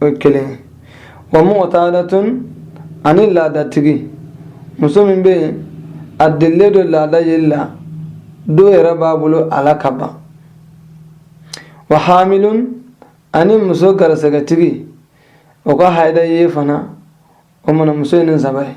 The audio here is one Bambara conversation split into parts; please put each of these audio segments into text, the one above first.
o ye kelen ye wa mu'tadatun ani laadatigi muso min bɛ yen a delilen don laada yeli la dɔw yɛrɛ b'a bolo a la ka ban wa hamilun ani muso garisɛgɛtigi o ka haida ye fana o mana muso ye nin saba ye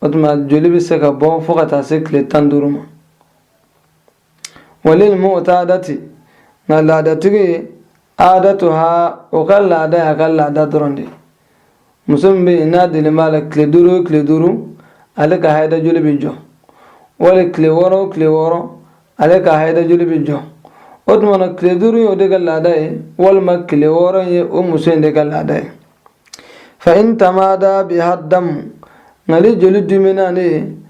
o tuma joli bɛ se ka bɔ fo ka taa se tile tan duuru ma walil mu'tadati nka laadatigi aadatu ha o ka laada y'a ka laada dɔrɔn de muso min bɛ yen n'a deli b'a la tile duuru o tile duuru ale ka hayida joli bɛ jɔ wali tile wɔɔrɔ o tile wɔɔrɔ ale ka hayida joli bɛ jɔ o tuma na tile duuru ye o de ka laada ye walima tile wɔɔrɔ ye o muso in de ka laada ye fa in tamada biha damu nk'ale joli de mɛnna nin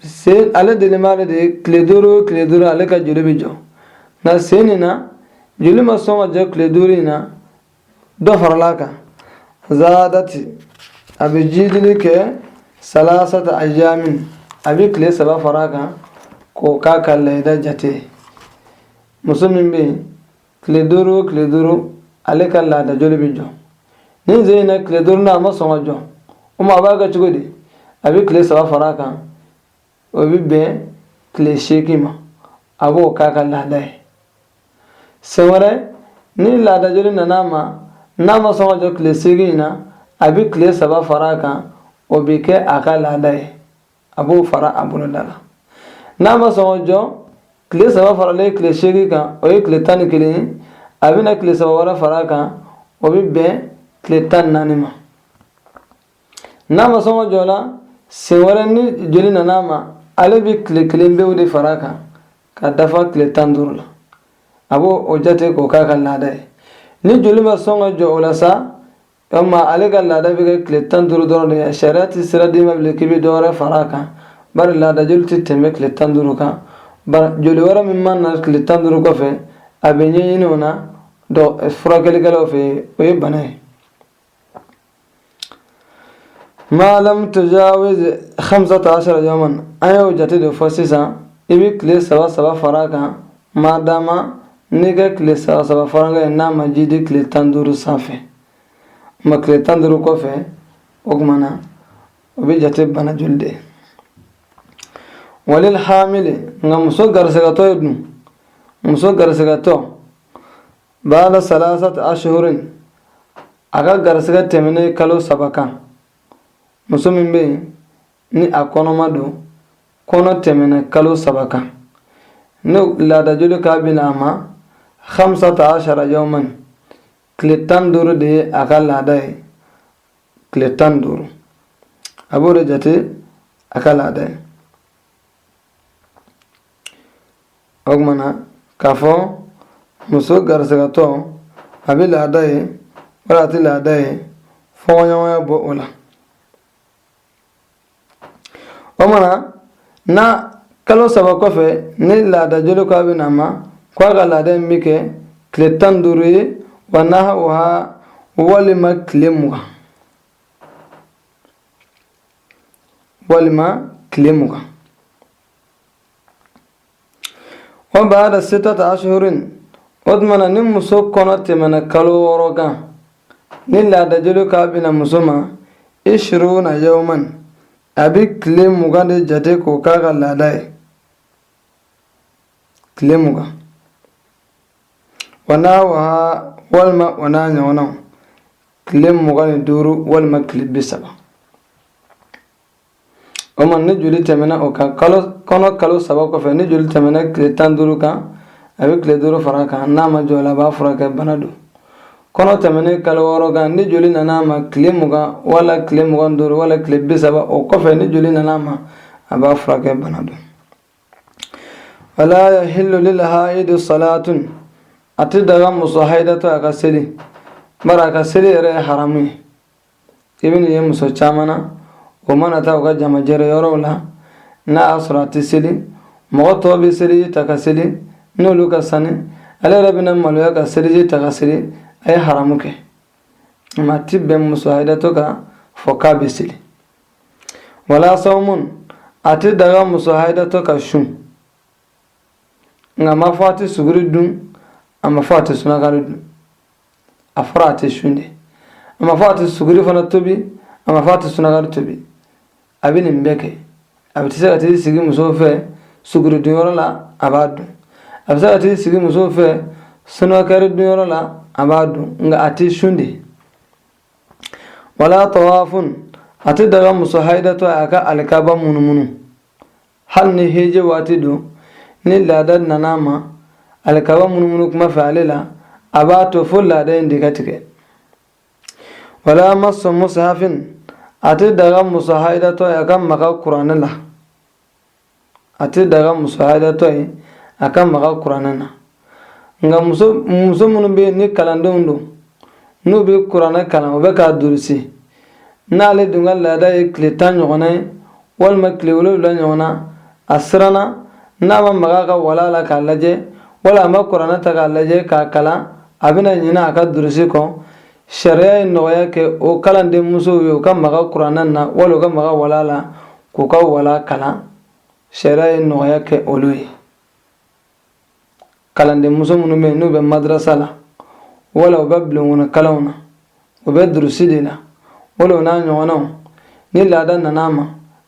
sen ale deli b'a la de tile duuru o tile duuru ale ka joli bɛ jɔ nka sen nin na joli ma sɔn ka jɔ tile duuru in na dɔ farala a kan zadat a bɛ jidili kɛ salasata ayamin a bɛ tile saba fara a kan k'o k'a ka laada jate muso min bɛ yen tile duuru o tile duuru ale ka laada joli bɛ jɔ ni sen in na tile duurunan a ma sɔn ka jɔ o ma a b'a kɛ cogo di a bɛ tile saba fara a kan o bɛ bɛn tile seegin ma a b'o k'a ka laada ye sen wɛrɛ ni laada joli nana a ma n'a ma sɔn ka jɔ tile seegin in na a bɛ tile saba fara a kan o bɛ kɛ a ka laada ye a b'o fara a boloda la n'a ma sɔn ka jɔ tile saba faralen tile seegin kan o ye tile tan ni kelen ye a bɛna tile saba wɛrɛ fara a kan o bɛ bɛn tile tan ni naani ma n'a ma sɔn ka jɔ la sen wɛrɛ ni joli nana a ma ale bɛ tile kelen pewu de fara a kan ka dafa tile tan duuru la a b'o o jate k'o k'a ka laada ye ni joli ma sɔn ka jɔ o la sa yalima ale ka laada bɛ kɛ tile tan duuru dɔrɔn de ye sariya tɛ sira d'i ma bilen k'i bɛ dɔ wɛrɛ fara a kan bari laada joli tɛ tɛmɛ tile tan duuru kan joli wɛrɛ min mana na tile tan duuru kɔfɛ a bɛ ɲɛɲini o na furakɛlikɛlaw fɛ yen o ye bana ye ma lam tujawiz khamsata ashara yawman an y'o jate de fɔ sisan i bɛ tile saba saba fara a kan maadama n'i ka tile saba saba farankan ye n'a ma jidi tile tan duuru sanfɛ o ma tile tan duuru kɔfɛ o tuma na o bɛ jate bana joli de ye walil hamili nka muso garisigɛtɔ ye dun muso garisigɛtɔ ba'da salasati ashhurin a ka garisigɛ tɛmɛnen kalo saba kan muso min bɛ yen ni a kɔnɔma don kɔnɔ tɛmɛna kalo saba kan ni laadajoli k'a bɛ na a ma hamsata ashara yawman tile tan duuru de ye a ka laada ye tile tan duuru a b'o de jate a ka laada ye an kumana k'a fɔ muso garisigɛtɔ a bɛ laada ye wala a tɛ laada ye fɔɲɔgɔnya b'o la a mana na kalo saba kɔfɛ ni laada joli ko a bɛ na ma ko a ka laada in bɛ kɛ tile tan duuru ye wa nahawaha walima tile mugan walima tile mugan Wa ba'da sittati ashhurin o tuma na ni muso kɔnɔ tɛmɛna kalo wɔɔrɔ kan ni laadajoli k'a bɛ na muso ma ishiruna yawman a bɛ tile mugan de jate k'o k'a ka laada ye tile mugan wa nahawaha walima o n'a ɲɔgɔnnaw tile mugan ni duuru walima tile bi saba o ma ni joli tɛmɛna o kan kalo kɔnɔ kalo saba kɔfɛ ni joli tɛmɛna tile tan duuru kan a bɛ tile duuru fara a kan n'a ma jɔ o la a b'a furakɛ bana don kɔnɔ tɛmɛnen kalo wɔɔrɔ kan ni joli nana a ma tile mugan wala tile mugan duuru wala tile bi saba o kɔfɛ ni joli nana a ma a b'a furakɛ bana don wala yahillu lil haidi salatun a tɛ daga muso haidatɔ a ka seli bari a ka seli yɛrɛ ye haramu ye i bɛ nin ye muso caman na u mana taa u ka jamajɛrɛ yɔrɔw la n'a y'a sɔrɔ a ti seli mɔgɔ tɔw bɛ seliji ta ka seli n'olu ka sani ale yɛrɛ bɛna maloya ka seliji ta ka seli a ye haramu kɛ ma ti bɛn muso hayidatɔ k'a fɔ k'a bɛ seli wala sawmun a ti daga muso hayidatɔ ka sun nka a ma fɔ a ti suguri dun a ma fɔ a ti sunakari dun a fɔra a tɛ sun de a ma fɔ a tɛ suguri fana tobi a ma fɔ a tɛ sunagari tobi a bɛ nin bɛɛ kɛ a bɛ se ka t'i sigi musow fɛ suguri dunyɔrɔ la a b'a dun a bɛ se ka t'i sigi musow fɛ sunagari dunyɔrɔ la a b'a dun nka a tɛ sun de wala tawafun a tɛ daga muso hayidatɔ a ka alikaba munumunu hali ni heje waati don ni laada nana a ma alikaba munumunu kuma fɛ ale la a b'a to fo laada in de ka tigɛ wala masu mushafin a tɛ daga muso haidatɔ a ka maga kuranɛ la a tɛ daga muso haidatɔ ye a ka maga kuranɛ na nka muso muso minnu bɛ yen ni kalandenw don n'u bɛ kuranɛ kalan u bɛ k'a durusi n'ale dun ka laada ye tile tan ɲɔgɔnna ye walima tile wolonwula ɲɔgɔnna a siranna n'a ma maga a ka wala la k'a lajɛ wala a ma kuranɛ ta k'a lajɛ k'a kalan a bɛna ɲinɛ a ka durusi kɔ sariya ye nɔgɔya kɛ o kalanden musow ye u ka maga kuranɛ na wala u ka maga wala la k'u ka wala kalan sariya ye nɔgɔya kɛ olu ye kalanden muso minnu bɛ yen n'u bɛ madrasa la wala u bɛ bulonkɔnɔ kalanw na u bɛ durusi de la wala o n'a ɲɔgɔnnaw ni laada nana a ma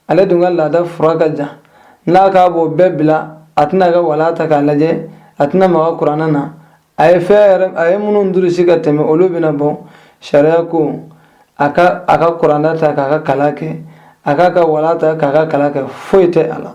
ale dun ka laada fura ka jan n'a k'a b'o bɛɛ bila a tɛna ka wala ta k'a lajɛ a tɛna maga kuranɛ na a ye fɛn yɛrɛ a ye minnu durusi ka tɛmɛ olu bɛna bɔ sariya ko a ka a ka kuranɛ ta k'a ka kalan kɛ a k'a ka wala ta k'a ka kalan kɛ foyi tɛ a la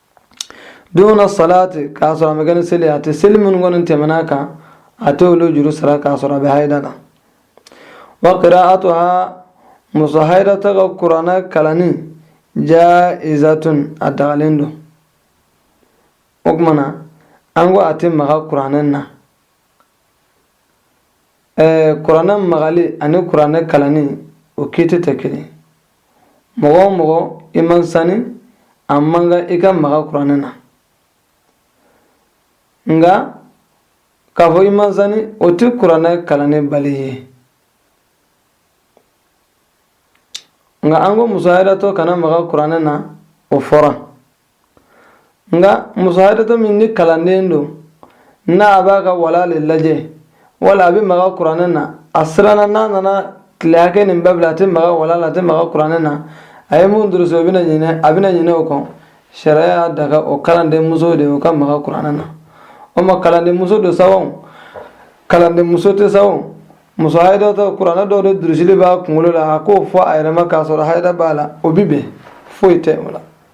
duna salati k'a sɔrɔ a ma kɛ ni seli a tɛ seli minnu kɔni tɛmɛna a kan a tɛ olu juru sara k'a sɔrɔ a bɛ hayida la wa qira'atuha muso hayidatɔ ka kuranɛ kalanni jaizatun a dagalen don o tuma na an ko a tɛ maga kuranɛ na ɛɛ kuranɛ magali ani kuranɛ kalanni o kiti tɛ kelen mɔgɔ o mɔgɔ i man sani a man kan i ka maga kuranɛ na nka k'a fɔ i man sani o tɛ kuranɛ kalanni bali ye nka an ko muso hayidatɔ kana maga kuranɛ na o fɔra nka muso hayidatɔ min ni kalanden don n'a b'a ka wala de lajɛ wala a bɛ maga kuranɛ na a siranna n'a nana tile hakɛ nin bɛɛ bila a tɛ maga wala la a tɛ maga kuranɛ na a ye mun durusi o bɛna ɲinɛ a bɛna ɲinɛ o kɔ sariya y'a daga o kalanden muso de o ka maga kuranɛ na o ma kalanden muso don sa o kalanden muso tɛ sa o muso hayidatɔ kuranɛ dɔw de durusilen b'a kunkolo la a k'o fɔ a yɛrɛ ma k'a sɔrɔ hayida b'a la o bi bɛn foyi tɛ o la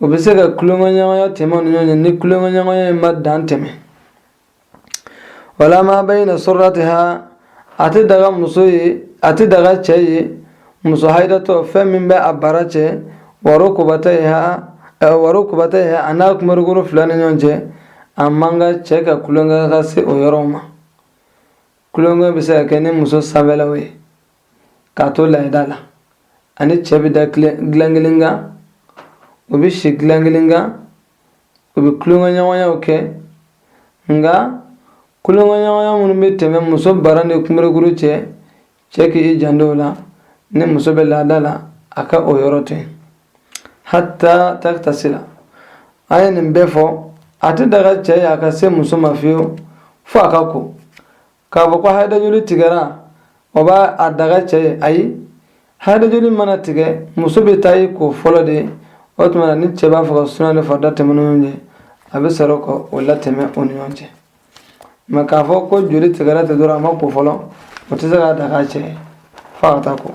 u bɛ se ka tulonkɛɲɔgɔnya tɛmɛ u ni ɲɔgɔn cɛ ni tulonkɛɲɔgɔnya in ma dan tɛmɛ wala ma bayna surratiha a tɛ daga muso ye a tɛ daga cɛ ye muso hayidatɔ fɛn min bɛ a bara cɛ wa rukbatayha wa rukbatayha a n'a kumarikuru fila ni ɲɔgɔn cɛ a man kan cɛ ka tulonkɛ ka se o yɔrɔw ma tulonkɛ bɛ se ka kɛ ni muso sanfɛlaw ye k'a to laada la a ni cɛ bɛ da dilan kelen kan u bɛ si dilan kelen kan u bɛ tulonkɛɲɔgɔnyaw kɛ nka tulonkɛɲɔgɔnya minnu bɛ tɛmɛ muso bara ni kunberekuru cɛ cɛ k'i janto o la ni muso bɛ laada la a ka o yɔrɔ to yen hata takitasila a ye nin bɛɛ fɔ a tɛ daga cɛ ye a ka se muso ma fiyewu fo a ka ko k'a fɔ ko hayidajoli tigɛra o b'a daga cɛ ye ayi hayidajoli mana tigɛ muso bɛ taa i ko fɔlɔ de o tuma na ni cɛ b'a fɛ ka sunan ni farida tɛmɛ u ni ɲɔgɔn cɛ a bɛ sɔrɔ ka o latɛmɛ o ni ɲɔgɔn cɛ mɛ k'a fɔ ko joli tigɛra ten dɔrɔn a ma ko fɔlɔ o tɛ se k'a daga cɛ ye fo a ka taa ko